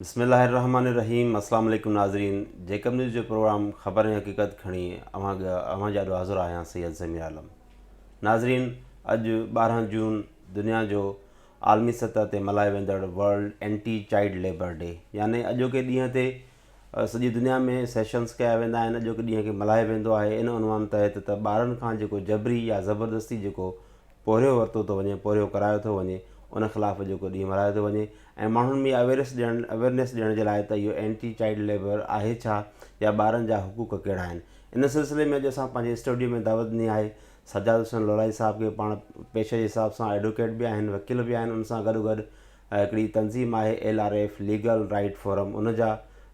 بسم الله الرحمٰن الرحيم اسلام عليڪم ناظرين جيڪب نيوز جو پروگرام خبر ۽ حقيقت کڻي اوهان اوهان جي آڏو حاضر آهيان سيد ضمير عالم ناظرين اڄ ٻارهن جون دنيا جو عالمي سطح تي ملهايو ويندڙ world anti child labour day يعني اڄوڪي ڏينهن تي سڄي دنيا ۾ سيشنس ڪيا ويندا آهن اڄوڪي ڏينهن کي ملهايو ويندو آهي ان عنوان تحت ته ٻارن کان جيڪو جبري يا زبردستي جيڪو پورهيو ورتو ٿو وڃي، پورهيو ڪرايو ٿو وڃي، ان خلاف اڄوڪو ڏينهن ملهايو ٿو وڃي ۽ ماڻهن ۾ اها اويرس ڏيڻ اويرنيس ڏيڻ جي لاء ته اهو اينٽي چائلڊ ليبر آهي ڇا يا ٻارن جا حقوق ڪهڙا آهن. ان سلسلي ۾ اڄ اسان پنهنجي اسٽوڊيو ۾ دعوت ڏني آهي سجاد حسين لولايي صاحب کي پاڻ پيشي جي حساب سان ايڊوڪيٽ به آهن وڪيل به آهن ان سان گڏوگڏ هڪڙي تنظيم آهي L R F legal right forum ان جا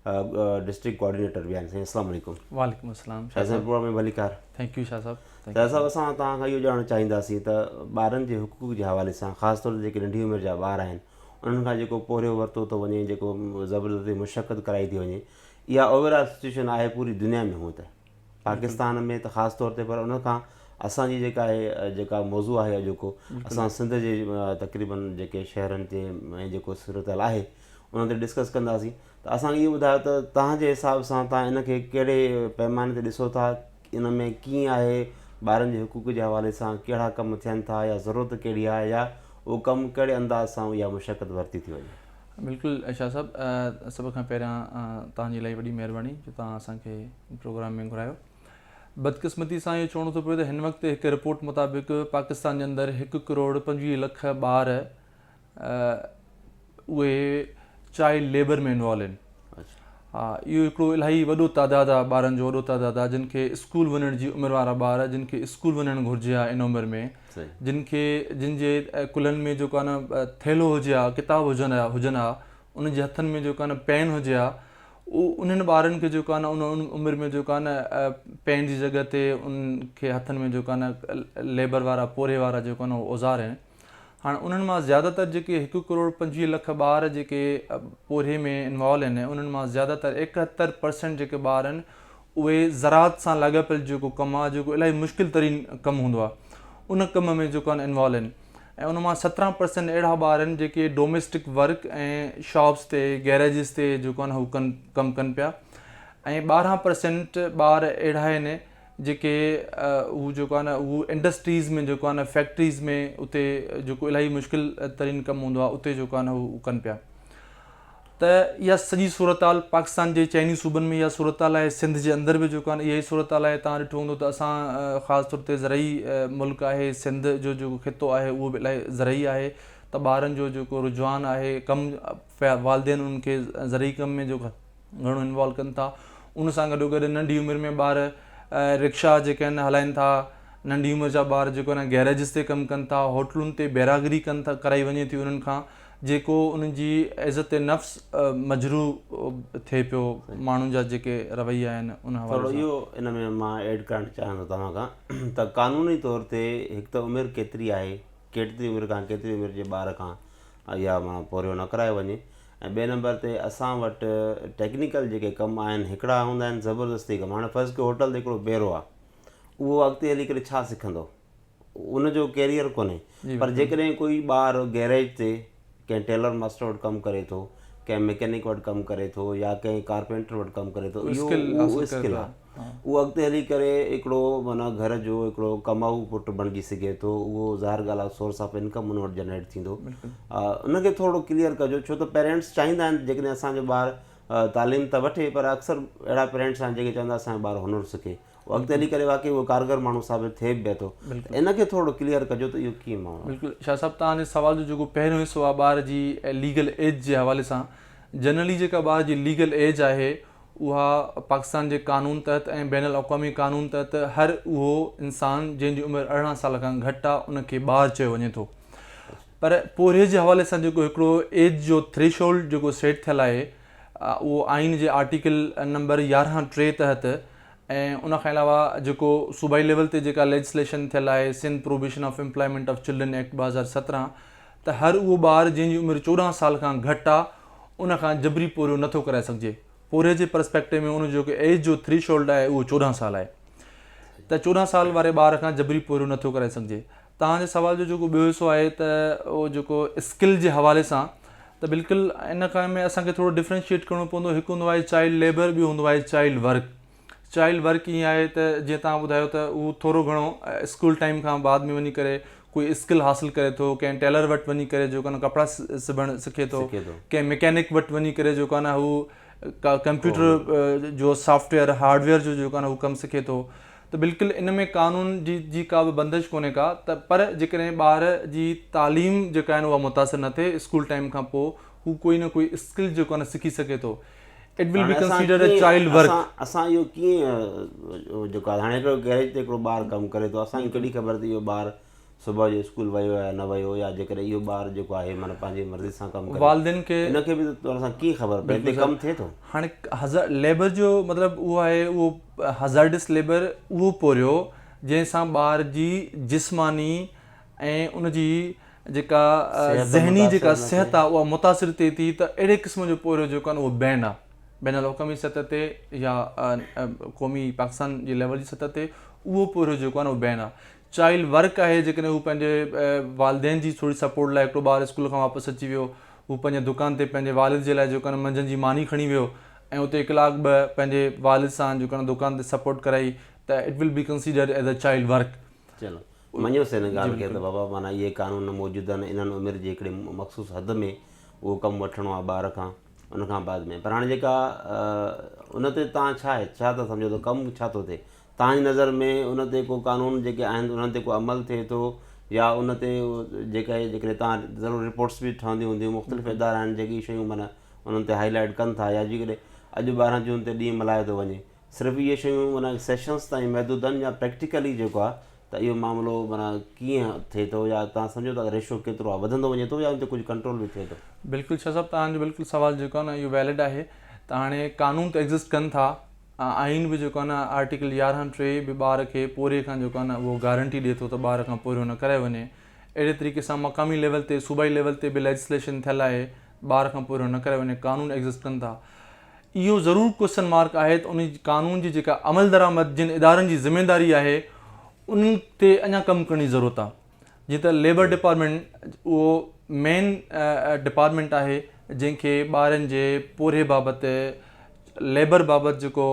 ڊسٽرڪٽ ڪوآرڊينيٽر به آهن سائين اسلام عليڪم. وعليڪم اسلام شاهه صاحب. پروگرام ۾ ڀليڪار. ٿينڪ يو شاهه صاحب. شاهه صاحب اسان توهان کان اهو ڄاڻڻ چاهينداسين ته ٻارن جي حقوق جي حوالي سان خاص طور تي جيڪي ننڍي عمر جا ٻار آهن انهن کان جيڪو پورهيو ورتو ٿو وڃي جيڪو زبردستي مشقت ڪرائي ٿي وڃي اها اوور آل سچويشن آهي پوري دنيا ۾ هونئن ته. پاڪستان ۾ ته خاص طور تي پر ان کان اسان جي جيڪا هي جيڪا موضوع آهي اڄوڪو اسان سنڌ جي تقريباً جيڪي شهرن تي ۽ جيڪو صورتحال آهي ان تي ڊسڪس ڪنداسين ته اسان کي اهو ٻڌايو ته تهان جي حساب سان تهان ان کي ڪهڙي پيماني تي ڏسو ٿا ان ۾ ڪيئن آهي ٻارن جي حقوق جي حوالي سان ڪهڙا ڪم ٿين ٿا يا ضرورت ڪهڙي آهي يا اهو ڪم ڪهڙي انداز سان اها مشقت ورتي ٿي وڃي بلڪل شاهه صاحب سڀ کان پهريان توهان جي الائي وڏي مهرباني جو توهان اسان کي پروگرام ۾ گهرايو بدقسمتي سان اهو چوڻو ٿو پوي ته هن وقت هڪ رپورٽ مطابق پاڪستان جي اندر هڪ ڪروڙ پنجويهه لک ٻار اهي چائلڊ ليبر ۾ انوالو آهن ها اهو هڪڙو الائي وڏو تعداد آهي ٻارن جو وڏو تعداد آهي جن کي اسڪول وڃڻ جي عمر وارا ٻار جن کي اسڪول وڃڻ گهرجي ها ان عمر ۾ جن کي جن جي ڪلهن ۾ جيڪو آهي نه ٿيلهو هجي ها ڪتاب هجن ها هجن ها انهن جي هٿن ۾ جيڪو آهي نه پين هجي ها انهن ٻارن کي جيڪو آهي نه ان عمر ۾ جيڪو آهي نه پين جي جڳهه تي ان کي هٿن ۾ جيڪو آهي نه ليبر وارا پورهي وارا جيڪو آهي نه اهو اوزار آهن هاڻ انهن مان زياده تر جيڪي هڪ ڪروڙ پنجويهه لک ٻار جيڪي پورهي ۾ انوالو آهن انهن مان زياده تر ايڪهتر پرسنٽ جيڪي ٻار آهن اهي زراعت سان لاڳاپيل جيڪو ڪم آهي جيڪو الاهي مشڪل ترين ڪم هوندو آهي ان ڪم ۾ جيڪو آهن انوالو آهن ۽ ان مان سترهن پرسينٽ اهڙا ٻار آهن جيڪي ڊوميسٽڪ ورڪ ۽ شاپس تي گيريجز تي جيڪو آهن هو ڪن ڪم ڪن پيا ۽ ٻارهن پرسينٽ ٻار اهڙا آهن جيڪي هو جيڪو آهن هو انڊسٽريز ۾ جيڪو آهن فيڪٽريز ۾ اتي جيڪو الاهي مشڪل ترين ڪم هوندو آهي اتي جيڪو آهن هو ڪن پيا ته اها سڄي صورتحال پاڪستان جي چئني صوبن ۾ اها صورتحال آهي، سنڌ جي اندر به جيڪو اها ئي صورتحال آهي، تان ڏٺو هوندو ته اسان خاص طور تي زرعي ملڪ آهي، سنڌ جو جيڪو خطو آهي اهو به الاهي زرعي آهي ته ٻارن جو جيڪو رجحان آهي ڪم والدين انهن کي زرعي ڪم ۾ جيڪو گهڻو انوالو ڪن ٿا ان سان گڏو گڏ ننڍي عمر ۾ ٻار رڪشا جيڪي آهن هلائن ٿا ننڍي عمر جا ٻار جيڪو آهن گيريجز تي ڪم ڪن ٿا، هوٽلن تي بيراگري ڪن ٿا ڪرائي وڃي ٿي انهن کان جيڪو انهن جي عزت نفس مجروح ٿئي پيو ماڻهن جا جيڪي رويا آهن ان حوالي سان. ٿورو اهو ان ۾ مان ايڊ ڪرڻ چاهيان ٿو توهان کان ته قانوني طور تي هڪ ته عمر ڪيتري آهي ڪيتري عمر کان ڪيتري عمر جي ٻار کان اها معنيٰ پورهيو نه ڪرايو وڃي ۽ ٻئي نمبر تي اسان وٽ ٽيڪنيڪل جيڪي ڪم آهن هڪڙا هوندا آهن زبردستي ڪم هاڻي فرض ڪيو هوٽل تي هڪڙو بيرو آهي اهو اڳتي هلي ڪري ڇا سکندو ان جو ڪيريئر ڪونهي پر جيڪڏهن ڪوئي ٻار گيريج تي ڪنهن ٽيلر ماستر وٽ ڪم ڪري ٿو ڪنهن مڪينڪ وٽ ڪم ڪري ٿو يا ڪنهن ڪارپينٽر وٽ ڪم ڪري ٿو اهو اسڪل آهي اهو اڳتي هلي ڪري هڪڙو معنيٰ گهر جو هڪڙو ڪمائو پٽ بڻجي سگهي ٿو اهو ظاهر ڳالهه آهي سورس آف انڪم ان وٽ جنريٽ ٿيندو ان کي ٿورو ڪليئر ڪجو ڇو ته پيرنٽس چاهيندا آهن جيڪڏهن اسانجو ٻار تعليم ته وٺي پر اڪثر اهڙا پيرنٽس آهن جيڪي چوندا اسانجو ٻار هنر سکي هو اڳتي هلي ڪري واقعي اهو ڪارگر ماڻهو ثابت ٿئي به پيو ٿو ته ان کي ٿورڙو ڪليئر ڪجو ته اهو ڪيئن ماڻهو آهي. بلڪل شاهه صاحب توهان جي سوال جو جيڪو پهريون حصو آهي ٻار جي ليگل ايج جي حوالي سان جنرلي جيڪا ٻار جي ليگل ايج آهي اها پاڪستان جي قانون تحت ۽ بين الاقوامي قانون تحت هر اهو انسان جنهن جي عمر ارڙهن سال کان گهٽ آهي ان کي ٻار چيو وڃي ٿو پر پورهيي جي حوالي سان جيڪو هڪڙو ايج جو ٿريشولڊ جيڪو سيٽ ٿيل آهي اهو آئين جي آرٽيڪل نمبر يارهن ٽي تحت ۽ ان کان علاوه جيڪو صوبائي ليول تي جيڪا ليجسليشن ٿيل آهي Sindh prohibition of employment of children act ٻه هزار سترهن ته هر اهو ٻار جنهن جي عمر چوڏهن سال کان گهٽ آ ان کان جبري پورهيو نٿو ڪرائي سگهجي پورهيي جي پرسپيڪٽو ۾ ان جو جيڪو ايج جو ٿريشولڊ آهي اهو چوڏهن سال آهي ته چوڏهن سال واري ٻار کان جبري پورهيو نٿو ڪرائي سگهجي توهان جي سوال جو جيڪو ٻيو حصو آهي ته اهو جيڪو اسڪل جي حوالي سان ته بلڪل ان کان ۾ اسان کي ٿورو ڊفرينشيٽ ڪرڻو پوندو هڪ هوندو آهي چائلڊ ليبر ٻيو هوندو آهي چائلڊ ورڪ چائلڊ ورڪ ائين آهي ته جيئن توهان ٻڌايو ته هو ٿورو گهڻو اسڪول ٽائيم کان بعد ۾ وڃي ڪري ڪوئي اسڪل حاصل ڪري ٿو ڪنهن ٽيلر وٽ وڃي ڪري جو ڪن ڪپڙا سبڻ سکي ٿو ڪنهن ميڪينڪ وٽ وڃي ڪري جو ڪن هو ڪمپيوٽر جو سافٽويئر هارڊويئر جو جو ڪن هو ڪم سکي ٿو ته بلڪل ان ۾ قانون جي جي ڪا به بندش ڪونهي ڪا ته پر جيڪڏهن ٻار جي تعليم جيڪا آهن اها متاثر نه ٿئي اسڪول ٽائيم کان پوء هو ڪوئي نه ڪوئي اسڪل جيڪو آهن سکي سگهي ٿو it will be considered a child work. اسان اهو ڪيئن جيڪو آهي هاڻي هڪڙو گيريج تي هڪڙو ٻار ڪم ڪري ٿو اسان کي ڪهڙي خبر ته اهو ٻار صبح جو اسڪول ويو يا نه ويو يا جيڪڏهن اهو ٻار جيڪو آهي معنيٰ پنهنجي مرضي سان ڪم ڪري والدين کي ان کي به طور سان ڪيئن خبر پئي هتي ڪم ٿئي ٿو. هاڻي هزار ليبر جو مطلب اهو آهي اهو هزارڊس ليبر اهو پورهيو جنهن سان ٻار جي جسماني ۽ ان جي جيڪا ذهني جيڪا صحت آهي اها متاثر ٿئي ٿي ته اهڙي قسم جو پورهيو جيڪو آهي اهو بين آهي بين الحڪمي سطح تي يا قومي پاڪستان جي ليول جي سطح تي اهو پورهيو جيڪو آهي اهو بين آهي چائلڊ ورڪ آهي جيڪڏهن هو پنهنجي والدين جي ٿوري سپورٽ لاء هڪڙو ٻار اسڪول کان واپس اچي ويو هو پنهنجي دڪان تي پنهنجي والد جي لاء جيڪو آهي نه منجهند جي ماني کڻي ويو ۽ اتي ڪلاڪ ٻه پنهنجي والد سان جيڪو آهي نه دڪان تي سپورٽ ڪرائي ته it will be considered as a child work. چلو مڃيو سين ان ڳالهه کي ته بابا معنيٰ اهي قانون موجود آهن انهن عمر جي هڪڙي مخصوص حد ۾ اهو ڪم وٺڻو آهي ٻار کان ان کان بعد ۾ پر هاڻي جيڪا ان تي تان ڇا آهي ڇا ٿا سمجهو ته ڪم ڇا ٿو ٿئي توهانجي نظر ۾ ان تي ڪو قانون جيڪي آهن انهن تي ڪو عمل ٿئي ٿو يا ان تي جيڪي جيڪڏهن تان ضرور رپورٽس به ٺهنديون هونديون مختلف ادارا آهن جيڪي شيون معنيٰ انهن تي هائي لائيٽ ڪن ٿا يا جيڪڏهن اڄ ٻارهن جون تي ڏينهن ملهايو ٿو وڃي صرف اهي شيون معنيٰ سيشنس تائين محدود آهن يا پريڪٽيڪلي جيڪو آهي ته اهو معاملو معنيٰ ڪيئن ٿئي ٿو يا تان سمجهو ٿا ته ريشو ڪيترو آهي وڌندو وڃي ٿو يا ان تي ڪجهه ڪنٽرول به ٿئي ٿو. بلڪل شاهه صاحب توهان جو بلڪل سوال جيڪو آهي نه اهو ويلڊ آهي ته هاڻي قانون ته ايگزسٽ ڪن ٿا ۽ آئين به جيڪو آهي نه آرٽيڪل يارهن ٽي به ٻار کي پورهيي کان جيڪو آهي نه اهو گارنٽي ڏئي ٿو ته ٻار کان پورهيو نه ڪرايو وڃي اهڙي طريقي سان مقامي ليول تي صوبائي ليول تي به ليجسليشن ٿيل آهي ٻار کان پورهيو نه ڪرايو وڃي قانون ايگزسٽ ڪن ٿا اهو ضرور ڪوسچن مارڪ آهي ته ان قانون جي جيڪا عملدرآمد جن ادارن جي ذميواري آهي انهن تي اڃا ڪم ڪرڻ جي ضرورت آهي جي ته ليبر ڊپارٽمينٽ اهو مين ڊپارٽمينٽ آهي جنهن کي ٻارن جي پورهيي بابت ليبر بابت جيڪو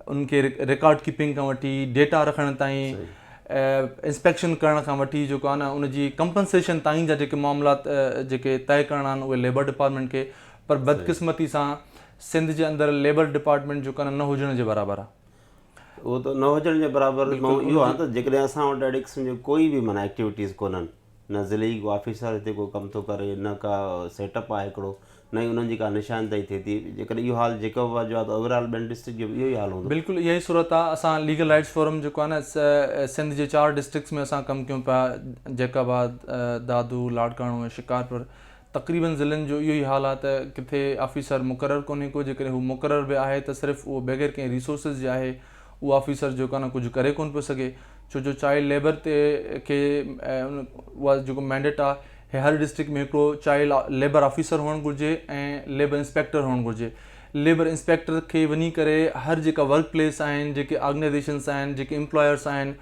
انهن کي رڪارڊ ڪيپنگ کان وٺي ڊيٽا رکڻ تائين انسپيڪشن ڪرڻ کان وٺي جيڪو آهي نه ان جي ڪمپنسيشن تائين جا جيڪي معاملات جيڪي طئي ڪرڻا آهن اهي ليبر ڊپارٽمينٽ کي پر بدقسمتي سان سنڌ جي اندر ليبر ڊپارٽمينٽ جيڪو آهي نه هجڻ جي برابر آهي اهو ته نه هجڻ جي برابر مان اهو آهيان ته جيڪڏهن اسان وٽ اهڙي قسم جي ڪوئي به معنيٰ ايڪٽيوٽيز ڪونهن نه ضلعي ڪو آفيسر هتي ڪو ڪم ٿو ڪري نه ڪا سيٽ اپ آهي هڪڙو نه ئي انهن جي ڪا نشاندهي ٿئي ٿي جيڪڏهن اهو حال جيڪب جو آهي ته اوور آل ٻين ڊسٽرڪٽ جو به اهو ئي حال هوندو بلڪل اها ئي صورت آهي اسان ليگل رائٽس فورم جيڪو آهي نه سنڌ جي چار ڊسٽرڪٽس ۾ اسان ڪم ڪيون پيا جيڪب آباد، دادو، لاڙڪاڻو ۽ شڪارپور تقريبن ضلعن جو اهو ئي حال آهي ته ڪٿي آفيسر مقرر ڪونهي ڪو جيڪڏهن هو مقرر به آهي ته صرف اهو بغير ڪنهن ريسورسز جي آهي اهو آفيسر جيڪو آهي نه ڪجهه ڪري ڪونه پيو سگهي ڇو جو چائلڊ ليبر تي کي اها جيڪو مينڊيٽ آهي هي هر ڊسٽرڪٽ ۾ هڪڙو چائلڊ ليبر آفيسر هئڻ گهرجي ۽ ليبر انسپيڪٽر هئڻ گهرجي ليبر انسپيڪٽر کي وڃي ڪري هر جيڪا ورڪ پليس آهن جيڪي آرگنائزيشنس آهن جيڪي امپلائرس آهن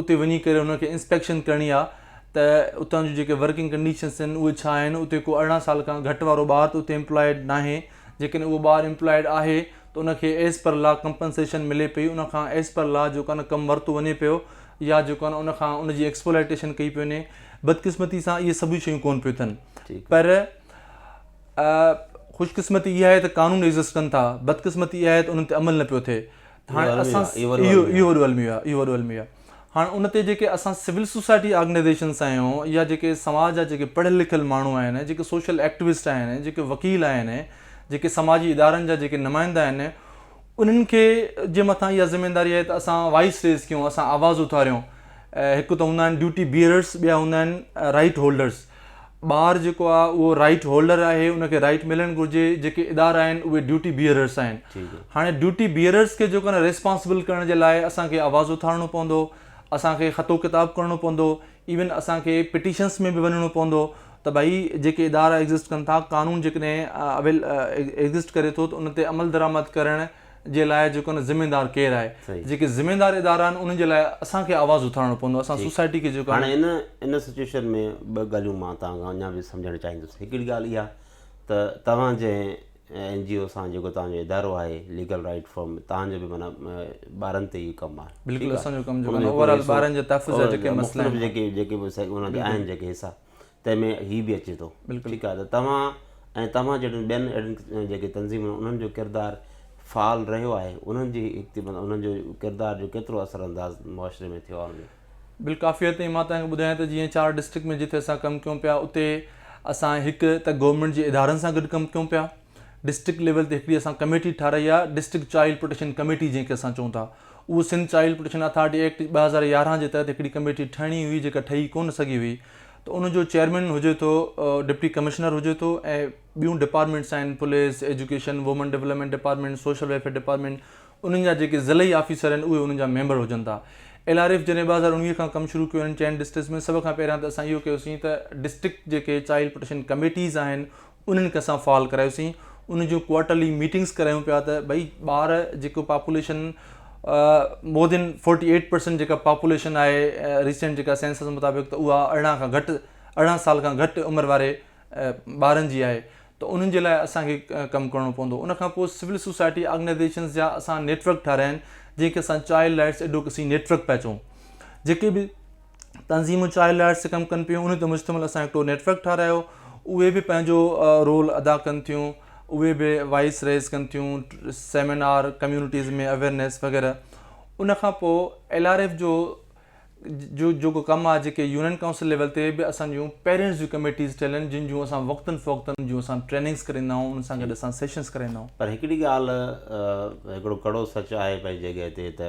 اتي وڃي ڪري هن کي انسپيڪشن ڪرڻي آهي ته اتان جون جيڪي ورڪنگ ڪنڊيشنس آهن اهي ڇا آهن، اتي ڪو ارڙهن سال کان گهٽ وارو ٻار ته اتي ايمپلائيڊ ناهي، جيڪڏهن اهو ٻار ايمپلائيڊ آهي ته ان کي ايز پر لا ڪمپنسيشن ملي پئي، ان کان ايز پر لا جيڪو آهي نه ڪم ورتو وڃي پيو يا جيڪو آهي نه ان کان ان جي ايڪسپولائيٽيشن ڪئي پئي وڃي، بدقسمتي سان اهي سڀ شيون ڪون پيون ٿين پر خوش قسمتي اها آهي ته قانون ايگزسٽ ڪن ٿا، بدقسمتي اها آهي ته انهن تي عمل نه پيو ٿئي، هاڻي اسان اهو وڏو الميو آهي. هاڻ ان تي جيڪي اسان سول سوسائٽي آرگنائيزيشنس آهيون يا جيڪي سماج جا جيڪي پڙهيل لکيل ماڻهو آهن جيڪي سوشل ايڪٽوسٽ آهن جيڪي وڪيل آهن جيڪي سماجي ادارن جا جيڪي نمائندا آهن انهن کي جي مٿان اها ذميواري آهي ته اسان وائس ريز ڪيون اسان آواز اٿاريون هڪ ته هوندا آهن ڊيوٽي بيئررس ٻيا هوندا آهن رائيٽ هولڊرس ٻار جيڪو آ اهو رائيٽ هولڊر آهي ان کي رائيٽ ملڻ گهرجي جيڪي ادارا آهن اهي ڊيوٽي بيئررس آهن هاڻي ڊيوٽي بيئررس کي جيڪو نه ريسپانسبل ڪرڻ جي لاء اسان کي آواز اٿارڻو پوندو اسان کي خط و ڪتاب ڪرڻو پوندو ايون اسان کي پٽيشنس ۾ به وڃڻو پوندو ته ڀائي جيڪي ادارا ايگزسٽ ڪن ٿا قانون جيڪڏهن ايگزسٽ ڪري ٿو ته ان تي عمل درآمد ڪرڻ جي لاء جيڪو ذميدار ڪير آهي جيڪي ذميدار ادارا آهن انهن جي لاء اسان کي آواز اٿارڻو پوندو اسان سوسائٽي کي جيڪو هاڻي ان ان سچويشن ۾ ٻه ڳالهيون مان تان کان اڃا به سمجهڻ چاهيندس هڪڙي ڳالهه اها ته توهان جي اين جي او سان جيڪو توهان جو ادارو آهي ليگل رائيٽ فورم توهان جو به معنيٰ ٻارن تي ئي ڪم آهي بلڪل اسان جو ڪم جيڪو آهي اوور آل ٻارن جي تحفظ جا جيڪي مسئلا آهن مختلف جيڪي جيڪي به ان جا آهن جيڪي حصا تنهن ۾ هي به اچي ٿو. بلڪل. ٺيڪ آهي ته توهان ۽ توهان جهڙين ٻين اهڙين جيڪي تنظيمون آهن انهن جو ڪردار فعال رهيو آهي انهن جي انهن جو ڪردار جو ڪيترو اثر انداز معاشري ۾ ٿيو آهي. بالڪافيء تائين مان توهان کي ٻڌايان ته جيئن چار ڊسٽرڪٽ ۾ جتي اسان ڪم ڪيون پيا اتي اسان هڪ ته گورنمينٽ جي ادارن سان گڏ ڪم ڪيون پيا. ڊسٽرڪٽ ليول تي هڪڙي اسان ڪميٽي ٺاهرائي آهي ڊسٽرڪٽ چائلڊ پروٽيڪشن ڪميٽي جنهن کي اسان چئون ٿا اهو Sindh child protection authority act ٻه هزار يارهن جي تحت هڪڙي ڪميٽي ٺهڻي هئي جيڪا ٺهي ڪونه سگهي هئي ته ان جو چيئرمين هجي ٿو ڊپٽي ڪمشنر هجي ٿو ۽ ٻيون ڊپارٽمنٽس آهن police education women development department social welfare department انهن جا جيڪي ضلعي آفيسر آهن اهي انهن جا ميمبر هجن ٿا ايل آر ايف جڏهن ٻه هزار اڻويهه کان ڪم شروع ڪيو هن چئن ڊسٽرڪٽس ۾ سڀ کان پهريان ته اسان اهو ڪيوسين ته ڊسٽرڪٽ جيڪي چائلڊ پروٽيڪشن ڪميٽيز آهن انهن کي اسان فعال ڪرايوسين ان جون ڪوارٽرلي ميٽنگس ڪرايون پيا ته ڀئي ٻار جيڪو population more than forty eight percent جيڪا پاپوليشن آهي ريسنٽ جيڪا سينسس مطابق ته اها ارڙهن کان گهٽ ارڙهن سال کان گهٽ عمر واري ٻارن جي آهي ته انهن جي لاء اسان کي ڪم ڪرڻو پوندو ان کان پوء سول سوسائٽي آرگنائزيشنز جا اسان نيٽورڪ ٺاهرايا آهن جنهن کي اسان چائلڊ رائٽس ايڊوڪسي نيٽورڪ پيا چئون جيڪي به تنظيمون چائلڊ لائيٽس تي ڪم ڪن پيون انهن تي مشتمل اسان هڪڙو نيٽ ورڪ ٺهرايو اهي به پنهنجو رول ادا ڪن ٿيون اهي به وائس ريز ڪن ٿيون سيمينار ڪميونٽيز ۾ اويرنيس وغيره ان کان پوء ايل آر ايف جو جو جيڪو ڪم آهي جيڪي يونين ڪائونسل ليول تي به اسان جون پيرنٽس جون ڪميٽيز ٺهيل آهن جن جون اسان وقتن فوقتن جون اسان ٽريننگس ڪرائيندا آهيون ان سان گڏ اسان سيشنس ڪرائيندا آهيون پر هڪڙي ڳالهه هڪڙو ڪڙو سچ آهي پنهنجي جڳهه تي ته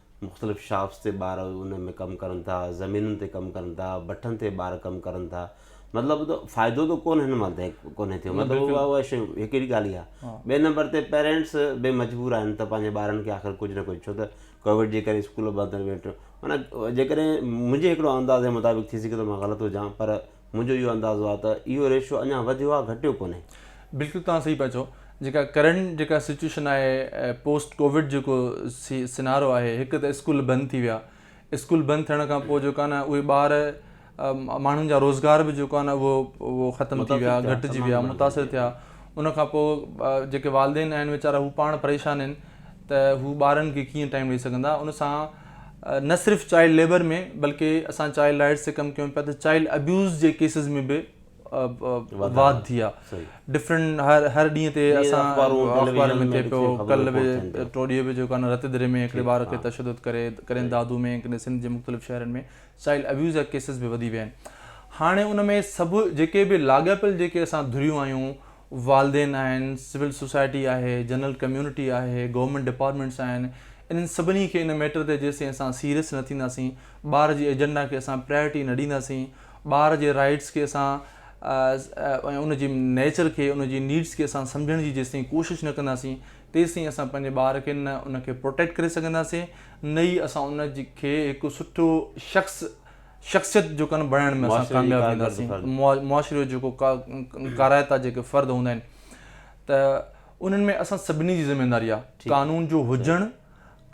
مختلف شاپس تي ٻار ان ۾ ڪم ڪرن ٿا زمينن تي ڪم ڪرن ٿا بٺن تي ٻار ڪم ڪرن ٿا مطلب ته فائدو ته ڪون هن مال تائين ڪونهي ٿيو مطلب اها اها شيء هڪڙي ڳالهه اها ٻئي نمبر تي پيرنٽس به مجبور آهن ته پنهنجي ٻارن کي آخر ڪجهه نه ڪجهه ڇو ته ڪوويڊ جي ڪري اسڪول بند آهن ويٺو معنيٰ جيڪڏهن منهنجي هڪڙو اندازي مطابق ٿي سگهي ٿو مان غلط هجان پر منهنجو اهو اندازو آهي ته اهو ريشو اڃا وڌيو آهي گهٽيو ڪونهي. بلڪل توهان صحيح پيا چئو جيڪا ڪرنٽ جيڪا سچوئيشن آهي پوسٽ ڪووڊ جيڪو سينارو آهي هڪ ته اسڪول بند ٿي ويا اسڪول بند ٿيڻ کان پوء جيڪو آهي نه اهي ٻار ماڻهن جا روزگار به جيڪو آهي نه اهو اهو ختم ٿي ويا گهٽجي ويا متاثر ٿيا ان کان پوء جيڪي والدين آهن ويچارا هو پاڻ پريشان آهن ته هو ٻارن کي ڪيئن ٽائم ڏيئي سگهندا ان سان نه صرف چائلڊ ليبر ۾ بلڪه اسان چائلڊ رائيٽس تي ڪم ڪيون پيا ته چائلڊ ابيوز جي ڪيسز ۾ به واڌ ٿي آهي ڊفرنٽ هر هر ڏينهن تي اسان اخبارن ۾ ٿي پيو ڪل به ٽوڙي به جيڪو آهن رت دري ۾ هڪڙي ٻار کي تشدد ڪري ڪرين دادو ۾ ڪڏهن سنڌ جي مختلف شهرن ۾ چائلڊ ابيوز جا ڪيسز به وڌي ويا آهن هاڻي ان ۾ سڀ جيڪي به لاڳاپيل جيڪي اسان ڌريون آهيون والدين آهن، سول سوسائٽي آهي، جنرل ڪميونٽي آهي، گورنمينٽ ڊپارٽمينٽس آهن، انهن سڀني کي ان ميٽر تي جيستائين اسان سيريس نه ٿينداسين، ٻار جي ايجنڊا کي اسان پرائرٽي نه ڏينداسين، ٻار جي رائيٽس کي اسان ۽ ان جي نيچر کي، ان جي نيڊس کي اسان سمجهڻ جي جيستائين ڪوشش نه ڪنداسين، تيستائين اسان پنهنجي ٻار کي نه ان کي پروٽيڪٽ ڪري سگهنداسين، نه ئي اسان ان کي هڪ سٺو شخص، شخصيت جو ڪن بڻائڻ ۾ اسان ڪامياب وينداسين معاشري جو جيڪو ڪارائتا جيڪي فرد هوندا آهن ته انهن ۾ اسان سڀني جي ذميواري آهي قانون جو هجڻ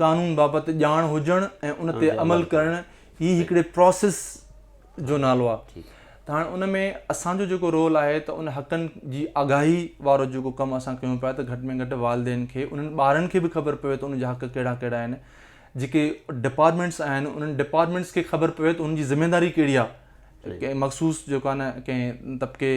قانون بابت ڄاڻ هجڻ ۽ ان تي عمل ڪرڻ هي هڪڙي پروسيس جو نالو آهي ته هاڻي ان ۾ اسان جو جيڪو رول آهي ته ان حقن جي آگاهي وارو جيڪو ڪم اسان ڪيون پيا ته گهٽ ۾ گهٽ والدين کي انهن ٻارن کي به خبر پوي ته ان جا حق ڪهڙا ڪهڙا آهن جيڪي ڊپارٽمينٽس آهن انهن ڊپارٽمينٽس کي خبر پوي ته انهن جي ذميواري ڪهڙي آهي ڪنهن مخصوص جيڪو آهي نه ڪنهن طبقي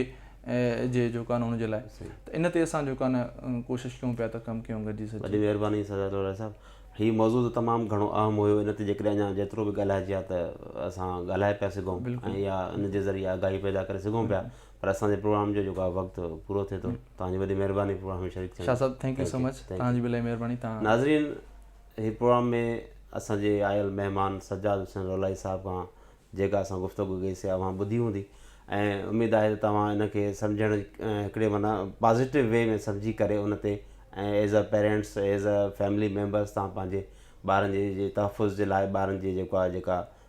جي جيڪو آهي نه ان جي لاء ته ان تي اسان جيڪو آهي نه ڪوشش ڪيون پيا ته ڪم ڪيون گڏجي سچي وڏي مهرباني سردار لوراء صاحب هي موضوع ته تمام گهڻو اهم هيو ان تي جيڪڏهن اڃا جيترو به ڳالهائجي ها ته اسان ڳالهائي پيا سگهون ۽ يا ان جي ذريعي آگاهي پيدا ڪري سگهون پيا پر اسان جي پروگرام جو جيڪو آهي وقت پورو ٿئي ٿو توهان جي وڏي مهرباني پروگرام ۾ شريڪ ٿيڻ شاهه صاحب ٿينڪ يو سو مچ توهان جي به الائي مهرباني توهان ناظرين هي پروگرام ۾ اسان جي آيل مهمان سجاد حسين رولائي صاحب کان جيڪا اسان گفتگو ڪئي سي اوهان ٻڌي هوندي ۽ اميد آهي ته توهان ان کي سمجهڻ جي هڪڙي معنيٰ پازيٽو وي ۾ سمجهي ڪري ان تي ۽ as a parents as a family members توهان پنهنجي ٻارن جي جي تحفظ جي لاء ٻارن جي جيڪو آهي جيڪا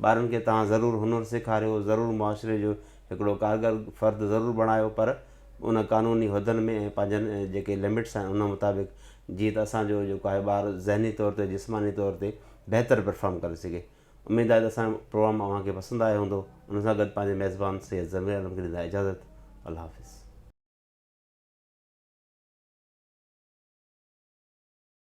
ٻارن کي توهان ضرور هنر سيکاريو، ضرور معاشري جو هڪڙو ڪارگر فرد ضرور بڻايو پر ان قانوني حدن ۾ ۽ پنهنجن جيڪي لمٽس آهن ان مطابق جيئن ته اسان جو جيڪو آهي ٻار ذهني طور تي جسماني طور تي بهتر پرفارم ڪري سگهي. اميد آهي ته اسان جو پروگرام اوهان کي پسند آيو هوندو. ان سان گڏ پنهنجي ميزبان سيد ضمير عالم کي ڏيندا اجازت. الله حافظ.